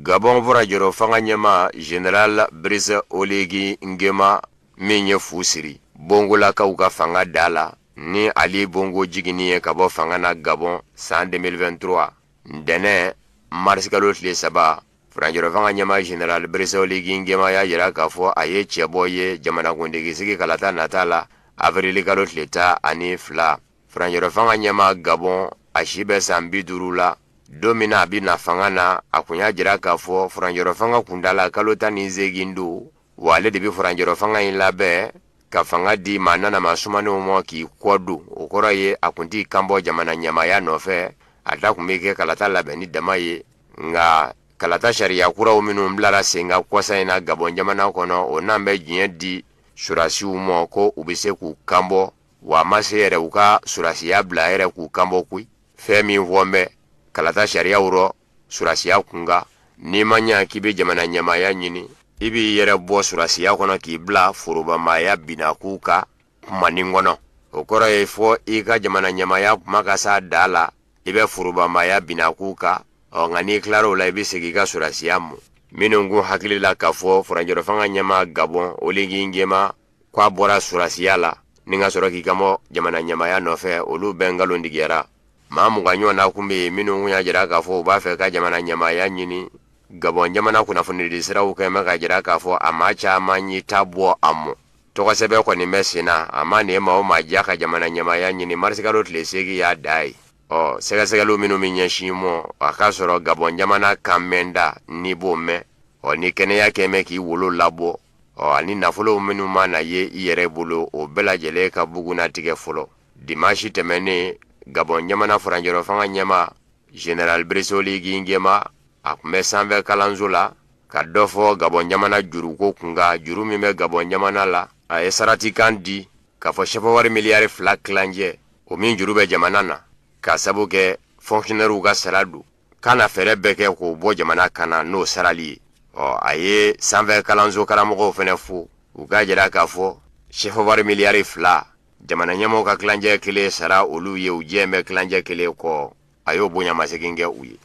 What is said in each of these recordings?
gabɔn furancɛrɔfanga ɲɛmaa general brice oligui nguema min ye fu siri bongolakaw ka fanga da la ni ali bongo jiginni ye ka bɔ fanga na gabɔn san 2023 ntɛnɛ marisikalo tile saba furancɛrɔfanga ɲɛmaa general brice oligui nguema y'a jira k'a fɔ a ye cɛbɔ ye jamanakuntigisigi kalata nata la avrili kalo tile tan ani fila Furancɛrɔfanga ɲɛmaa Gabɔn a si bɛ san bi duuru la don min na a bɛ na fanga na a kun y'a jira k'a fɔ furancɛrɔfanga kuntaala kalo tan ni seegin don wa ale de bɛ furancɛrɔfanga in labɛn ka fanga di maa nanama sumanenw ma k'i kɔ don o kɔrɔ ye a kun t'i kanbɔ jamana ɲɛmaaya nɔfɛ a ta kun bɛ kɛ kalata labɛnni dama ye nka kalata sariya kuraw minnu bilara sen kan kɔsa in na Gabɔn jamana kɔnɔ o n'an bɛ diɲɛ di sɔrasiw ma ko u bɛ se k'u kanbɔ wa a ma se yɛrɛ u ka surasiya bila yɛrɛ k'u kanbɔ koyi fɛn min fɔlen bɛ kalata sariyaw rɔ surasiya kunkan n'i ma ɲɛ k'i bɛ jamana ɲɛmaaya ɲini i b'i yɛrɛ bɔ surasiya kɔnɔ k'i bila forobamaya binakuu ka kumanin kɔnɔ o kɔrɔ ye fɔ i ka jamana ɲɛmaaya kuma ka s'a da la i bɛ forobamaya binakuu ka ɔ nka n'i tilara o la i bɛ segin i ka surasiya ma minnu kun hakili la k'a fɔ furancɛrɔfanga ɲɛmaa gabɔn oligui nguema k'a bɔra surasiya la ni ka sɔrɔ k'i kanbɔ jamana ɲɛmaaya nɔfɛ olu bɛɛ nkalontigiyara maa mugan ɲɔgɔn na kun bɛ yen minnu kun y'a jira k'a fɔ u b'a fɛ ka jamana ɲɛmaaya ɲini gabɔn jamana kunnafonidi siraw kɛ bɛ k'a jira k'a fɔ a maa caman y'i ta bɔ a ma tɔgɔsɛbɛn kɔni bɛ sen na a mana maa o maa diya ka jamana ɲɛmaaya ɲini marisikalo tile seegin y'a dan ye ɔ sɛgɛsɛgɛli minnu min ɲɛsin mɔ a k'a sɔrɔ gabɔn jamana kan min don i b'o mɛn ɔ n'i kɛnɛya kɛmɛ k'i wolo labɔ ɔ ani nafolo minnu mana ye i yɛrɛ bolo o bɛɛ lajɛlen ka bugunnatigɛ fɔlɔ dimansi tɛmɛnnen gabɔn jamana furancɛrɔfanga ɲɛmaa general brice oligui nguema a tun bɛ sanfɛ kalanso la ka dɔ fɔ gabɔn jamana juruko kunkan juru min bɛ gabɔn jamana la a ye saratikan di k'a fɔ sɛfɛwari miliyari fila tilancɛ o min juru bɛ jamana na k'a sabu kɛ fɔnkisiyonɛriw ka sara don k'a na fɛɛrɛ bɛɛ kɛ k'o bɔ jamana kan na n'o sarali ye ɔ a ye sanfɛ kalanso karamɔgɔw fana fo u k'a jira k'a fɔ sɛfɔwari miliyari fila jamana ɲɛmɔgɔ ka tilancɛ kelen sara olu ye u diɲɛnen bɛ tilancɛ kelen kɔ a y'o bonyamasegin kɛ u ye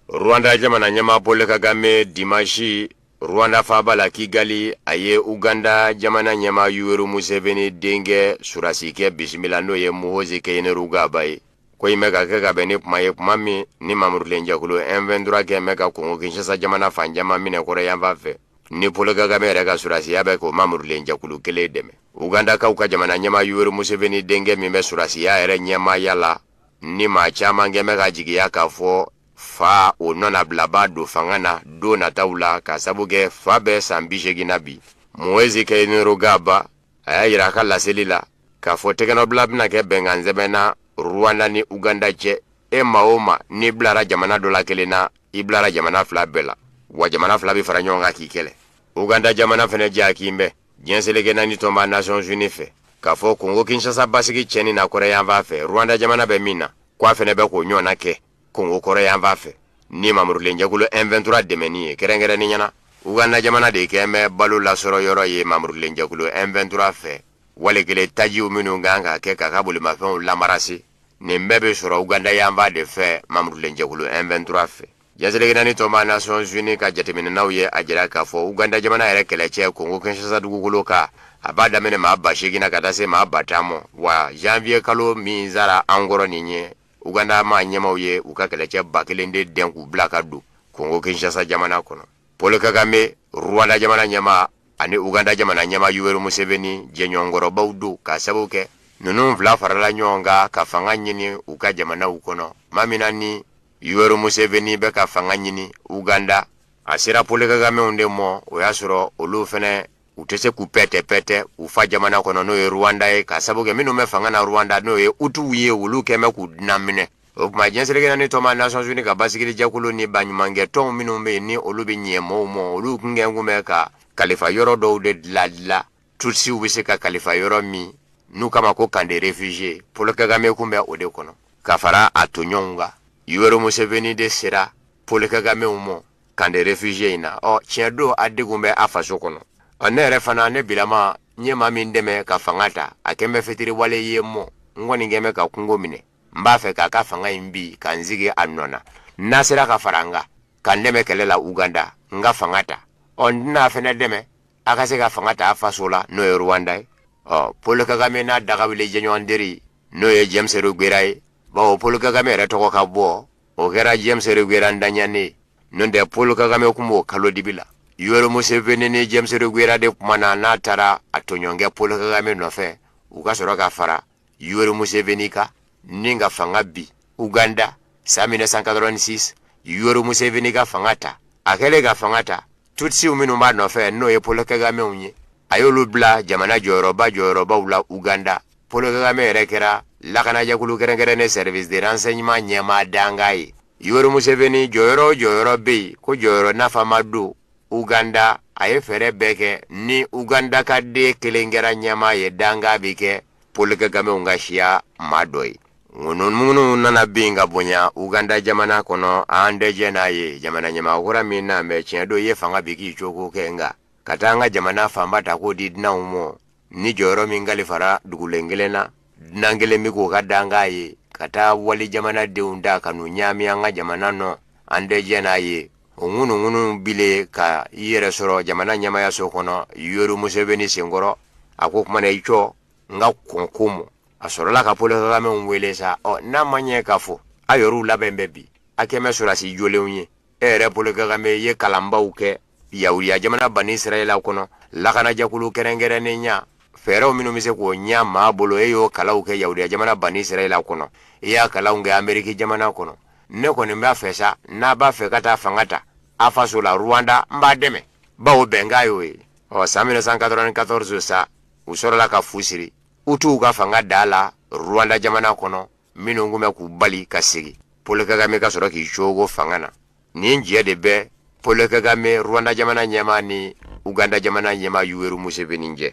rwanda jamana ɲɛmaa paul kagame dimansi Rwanda faba la Kigali a ye Uganda jamana ɲɛmaa Yoweri Museveni denkɛ sɔrasikɛ bisimila n'o ye Muhoozi Kainerugaba ye. Ko in bɛ ka kɛ ka bɛn ni kuma ye kuma min ni mamurulenjɛkulu M23 kɛlen bɛ ka Kongo Kinshasa jamana fan caman minɛ kɔrɔyanfan fɛ, ni Paul Kagame yɛrɛ ka sɔrasiya bɛ k'o mamurulenjɛkulu kelen dɛmɛ. Ugandakaw ka jamana ɲɛmaa Yoweri Museveni denkɛ min bɛ sɔrasiya yɛrɛ ɲɛmaaya la ni maa caman kɛlen bɛ ka jigiya k'a fɔ fa o nɔnabilabaa don fanga na don nataw la k'a sabu kɛ fa bɛ san bi seegin na bi muhoozi kainerugaba a y'a yira a ka laseli la k'a fɔ tɛgɛnɔbila bɛna kɛ bɛnkan sɛbɛn na rwanda ni uganda cɛ e maa o maa n'i bilara jamana dɔ la kelen na i bilara jamana fila bɛɛ la wa jamana fila bɛ fara ɲɔgɔn kan k'i kɛlɛ uganda jamana fana jalakilen bɛ diɲɛ seleke naani tɔnba nations unies fɛ k'a fɔ kongo kinshasa basigi tiɲɛni na kɔrɛyanfan fɛ rwanda jamana bɛ min na k'a fana bɛ k'o ɲɔgɔnna kɛ Kongo kɔrɔyanfan fɛ ni mamurulenjɛkulu M23 dɛmɛni ye kɛrɛnkɛrɛnnenya na Uganda jamana de kɛlen bɛ balo lasɔrɔ yɔrɔ ye mamurulenjɛkulu M23 fɛ wale kelen tajiw minnu kan ka kɛ k'a ka bolimafɛnw lamarase nin bɛɛ bɛ sɔrɔ uganda yanfan de fɛ mamurulenjɛkulu M23 fɛ diɲɛ seleke naani tɔnba nations unies ka jateminɛnaw ye a jira k'a fɔ uganda jamana yɛrɛ kɛlɛcɛ kongo kinshasa dugukolo kan a b'a daminɛ maa ba seegin na ka taa se maa ba tan ma wa janvier kalo min sara an kɔrɔ nin ye uganda maa ɲɛmaaw ye u ka kɛlɛcɛ ba kelen de dɛn k'u bila ka don kongo kinshasa jamana kɔnɔ paul kagame rwanda jamana ɲɛmaa ani uganda jamana ɲɛmaa yoweri museveni jɛɲɔgɔnkɔrɔbaw don k'a sabu kɛ ninnu fila farala ɲɔgɔn kan ka fanga ɲini u ka jamanaw kɔnɔ tuma min na ni yoweri museveni bɛ ka fanga ɲini uganda a sera paul kagamew de mɔ o y'a sɔrɔ olu fana u tɛ se k'u pɛtɛ pɛtɛ u fa jamana kɔnɔ n'o ye rwanda ye k'a sabu kɛ minnu bɛ fanga na rwanda n'o ye hutuw ye olu kɛn bɛ k'u dunan minɛ o tuma diɲɛ seleke naani tɔnba nations unies ka basigili jɛkulu ni baɲumankɛtɔnw minnu bɛ yen ni olu bɛ ɲɛ mɔɔw mɔ olu kun kɛn kun bɛ ka kalifa yɔrɔ dɔw de diladila tutsiw bɛ se ka kalifa yɔrɔ min n'u k'a ma ko camp de réfugiés paul kagame kun bɛ o de kɔnɔ ka fara a toɲɔgɔnw kan yoweri museveni de sera paul kagamew mɔ camp de réfugiés in na ɔ tiɲɛ don a degun bɛ a faso kɔnɔ ɔ ne yɛrɛ fana ne bilama n ye maa min dɛmɛ ka fanga ta a kɛn bɛ fitiriwale ye mɔ n kɔni kɛn bɛ ka kungo minɛ n b'a fɛ k'a ka fanga in bin ka n sigi a nɔ na n'a sera ka fara n kan ka n dɛmɛ kɛlɛ la uganda n ka fanga ta ɔ n tɛn'a fana dɛmɛ a ka se ka fanga ta a faso la n'o ye rwanda ye ɔ paul kagame n'a dagawuli jɛɲɔgɔn teri n'o ye james rugera ye bawo paul kagame yɛrɛ tɔgɔ ka bɔ o kɛra James Rugwera daɲanen n'o tɛ Paul Kagame tun b'o kalo dibi la Yoweri Museveni ni James Rugwera de tuma na n'a taara a tɔɲɔgɔnkɛ Paul Kagame nɔfɛ u ka sɔrɔ ka fara Yoweri Museveni kan ni ka fanga bin Uganda san mille neuf cent quatre-vingt-six Yoweri Museveni ka fanga ta a kɛlen ka fanga ta Tutsiw minnu b'a nɔfɛ n'o ye Paul Kagamew ye a y'olu bila jamana jɔyɔrɔba jɔyɔrɔbaw la uganda Paul Kagame yɛrɛ kɛra lakanajɛkulu kɛrɛnkɛrɛnnen service de renseignement ɲɛmaa dankan ye Yoweri Museveni jɔyɔrɔ o jɔyɔrɔ bɛ yen ko jɔyɔrɔ nafama don uganda a ye fɛɛrɛ bɛɛ kɛ ni uganda ka den kelen kɛra ɲɛmaa ye dankan bɛ kɛ Paul Kagamew ka siya maa dɔ ye ŋunuŋunu nana bin ka bonya uganda jamana kɔnɔ an tɛ jɛn n'a ye jamana ɲɛmaa kura min na mɛ tiɲɛ don i ye fanga bin k'i cogo kɛ nka ka taa an ka jamana fanba ta k'o di dunanw ma ni jɔyɔrɔ min kalifara dugulen kelen na dunan kelen bɛ k'o ka dankan ye ka taa wali jamanadenw ta ka n'u ɲaami an ka jamana nɔ an tɛ jɛn n'a ye o ŋunuŋunu binnen ka i yɛrɛ sɔrɔ jamana ɲɛmaayaso kɔnɔ Yoweri Museveni senkɔrɔ a ko kumana i cɔ n ka kɔn ko mɔ a sɔrɔla ka Paul Kagamew wele sa ɔ n'a ma ɲɛ k'a fɔ a yɔrɔw labɛn bɛ bi a kɛmɛ sɔrɔdasi jolenw ye e yɛrɛ Paul Kagame ye kalanbaw kɛ yahudiya jamana Bani Israɛla kɔnɔ lakanajɛkulu kɛrɛnkɛrɛnnen ɲɛ fɛɛrɛw minnu bɛ se k'o ɲɛ maa bolo e y'o kalanw kɛ yahudiya jamana Bani Israɛla kɔnɔ i y'a kalanw kɛ Ameriki jamana kɔnɔ ne kɔni b'a fɛ sa n'a b'a fɛ ka taa fanga ta a faso la ruwanda n b'a dɛmɛ bawo bɛnkan y'o ye ɔ san mille neuf cent quatre-vingt-quatorze sa u sɔrɔla ka fu siri Hutu ka fanga da la ruwanda jamana kɔnɔ minnu tun bɛ k'u bali ka segin Paul Kagame ka sɔrɔ k'i cogo fanga na nin jɛ de bɛ Paul Kagame Rwanda jamana ɲɛmaa ni Uganda jamana ɲɛmaa Yoweri Museveni cɛ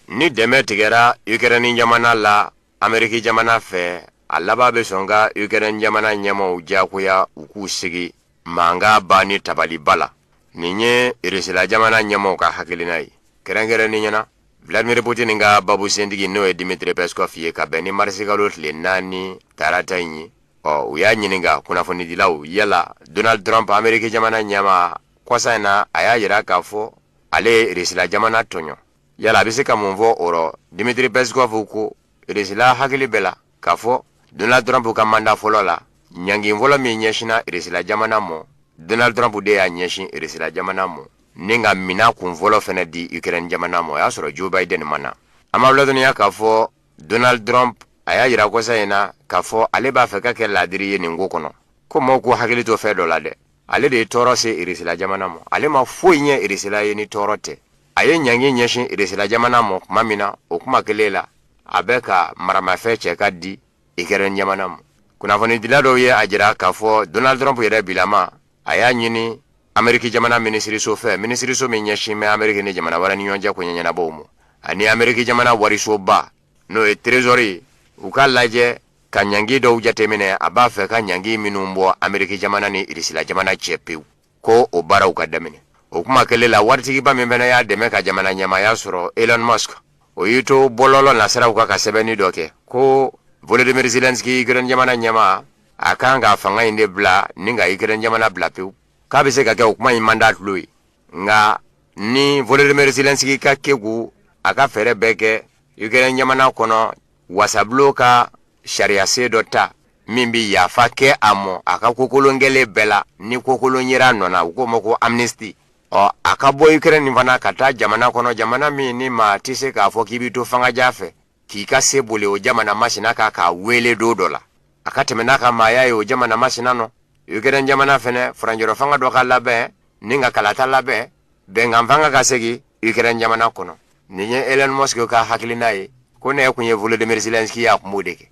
ni dɛmɛ tigɛra Ukraine jamana la Ameriki jamana fɛ a laban bɛ sɔn ka Ukraine jamana ɲɛmaaw diyagoya u k'u sigi mankan ban ni tabaliba la nin ye Irisila jamana ɲɛmaa ka hakilina ye kɛrɛnkɛrɛnnenya na vladimir putin ka babu sentigi n'o ye dimitri peskov ye ka bɛn ni marisikalo tile naani tarata in ye ɔ u y'a ɲininka kunnafonidilaw yala donald trump ameriki jamana ɲɛmaa kɔsa in na a y'a yira k'a fɔ ale ye Irisila jamana tɔɲɔ yala a bɛ se ka mun fɔ o rɔ dimitri peskov ko Irisila hakili b'a la k'a fɔ donald trump ka manda fɔlɔ la ɲangi fɔlɔ min ɲɛsinna irisila jamana mɔ donald trump de y'a ɲɛsin irisila jamana mɔ ni ka minan kun fɔlɔ fɛnɛ di ukraine jamana mɔ o y'a sɔrɔ joe biden ma na an b'aw ladɔnniya k'a fɔ donald trump a y'a yira kɔsa in na k'a fɔ ale b'a fɛ ka kɛ laadiri ye nin ko kɔnɔ ko maaw k'u hakili to fɛn dɔ la dɛ ale de ye tɔɔrɔ se irisila jamana ma ale ma foyi ɲɛ irisila ye ni tɔɔrɔ tɛ a ye ɲangi ɲɛsin irisila jamana ma tuma min na o kuma kelen la a bɛ ka maramafɛn cɛ ka di ikɛrɛn jamana ma kunnafonidila dɔw ye a jira k'a fɔ donald trump yɛrɛ bilama a y'a ɲini ameriki jamana minisiriso fɛ minisiriso min ɲɛsin bɛ ameriki ni jamana wɛrɛ ni ɲɔgɔn cɛ koɲɛ ɲɛnabɔw ma ani ameriki jamana warisoba n'o ye trezori ye u k'a lajɛ ka ɲangi dɔw jateminɛ a b'a fɛ ka ɲangi minnu bɔ ameriki jamana ni irisila jamana cɛ pewu ko o baaraw ka daminɛ o kuma kelen la waritigiba min fana y'a dɛmɛ ka jamana ɲɛmaaya sɔrɔ elon musk o y'i to bɔlɔlɔ nasiraw kan ka sɛbɛnni dɔ kɛ ko volodymyr zelensky ukraine jamana ɲɛmaa a kan ka fanga in de bila ni ka ukraine jamana bila pewu k'a bɛ se ka kɛ o kuma in man d'a tulo ye nka ni volodymyr zelensky ka kegun a ka fɛɛrɛ bɛɛ kɛ ikɛrɛn jamana kɔnɔ wasabulon ka sariyasen dɔ ta min bɛ yafa kɛ a mɔ a ka kokolon kɛlen bɛɛ la ni kokolon yer'a nɔ na u k'o ma ko amnesti ɔ a ka bɔ ukraine fana ka taa jamana kɔnɔ jamana min ni maa tɛ se k'a fɔ k'i b'i to fanga ja fɛ k'i ka se boli o jamana masina kan k'a weele don dɔ la a ka tɛmɛ n'a ka maaya ye o jamana masina nɔ ukraine jamana fɛnɛ furancɛrɔ fanga dɔ ka labɛn ni ka kalata labɛn bɛnkan fanga ka segin ukraine jamana kɔnɔ nin ye elon musk ka hakilina ye ko n'e kun ye volodymyr zelensky y'a kun b'o de kɛ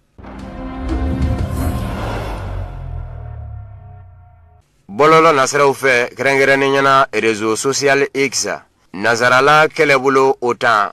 bɔlɔlɔ nasiraw fɛ kɛrɛnkɛrɛnnenya na rezo social x nazarala kɛlɛbolo o tan